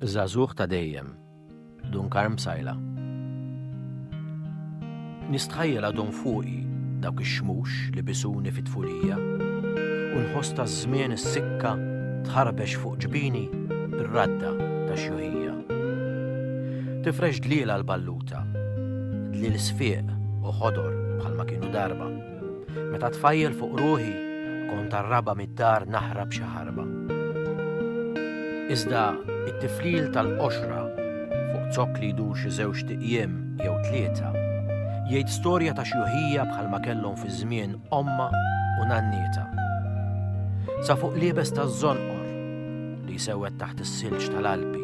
Żagħżugħ ta' dejjem, Dun Karm Psaila. Nistħajjel għadhom fuqi dawk ix-xmux li bisuni fit-tfulija u nħoss taż-żmien is-sikka tħarbex fuq ġbini r-radda ta' xjuħija. Tifrex dlielha l-balluta, dliel sfieq u ħodor bħalma kienu darba. Meta tfajjel fuq ruħi, kont raba mid-dar naħrab xi ħarba. Iżda it-tiflil tal-qoxra fuq zokk li jdur xi żewġ tiqjiem jew tlieta jgħid storja ta' xjuħija bħalma kellhom fi żmien omma u nannieta. Sa fuq liebes taż-żonqor li jsewwed taħt is-silġ tal-Alpi,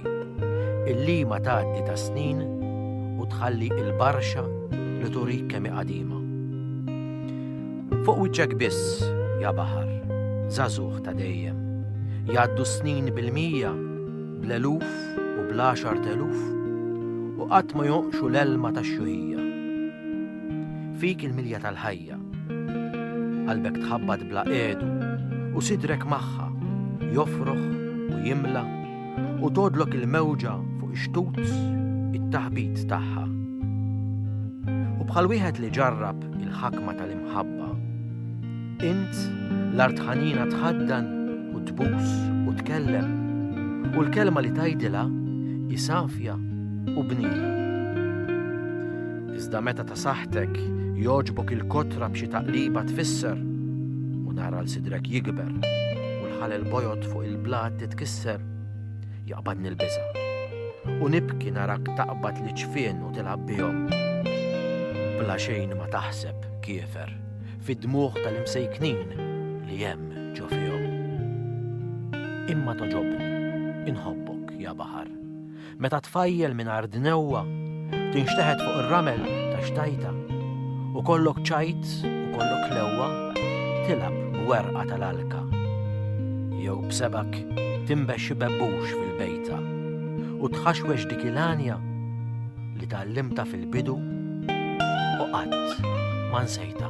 il-lima tgħaddi tas-snin u tħalli il-barxa li turik kemm hi qadima. Fuq wiċċek biss, ja baħar, żagħżugħ ta' dejjem, jgħaddu s-snin bil-mija, bl-eluf u bl-għaxar teluf, u qatt ma jonqxu l-elma tax-xuħija. Fik il-milja tal-ħajja, Qalbek tħabbat bla qiegħdu u sidrek magħha jofroħ u jimla u tgħoddlok il-mewġa fuq ix-xtut it-taħbit tagħha. U bħal wieħed li ġarrab il-ħakma tal-imħabba, int l-art ħanina tħaddan u tbus u tkellem u l-kelma li tajdilha isafja u bnina. Iżda meta ta' saħħtek jogħġbok il-kotra b'xi taqliba tfisser u nara l sidrek jikber u l-ħalel bojod fuq il-blat titkisser, jaqbadni l-biża. U nibki narak taqbad li ċfien u tilab bihom. Bla xejn ma taħseb kiefer fid-dmuħ tal-imsejknin li hemm ġo fihom. Imma toġobni, inħobbok, ja baħar. Meta tfajjel mingħajr dnewwa tinxteħet fuq ir-ramel ta' xtajta u kollok ċajt u kollok lewwa tilab b'werqa tal-alka jew b'sebak timbex xi bebbux fil-bejta u tħaxwex dik il-għanja li tgħallimta fil-bidu u qatt ma nsejta.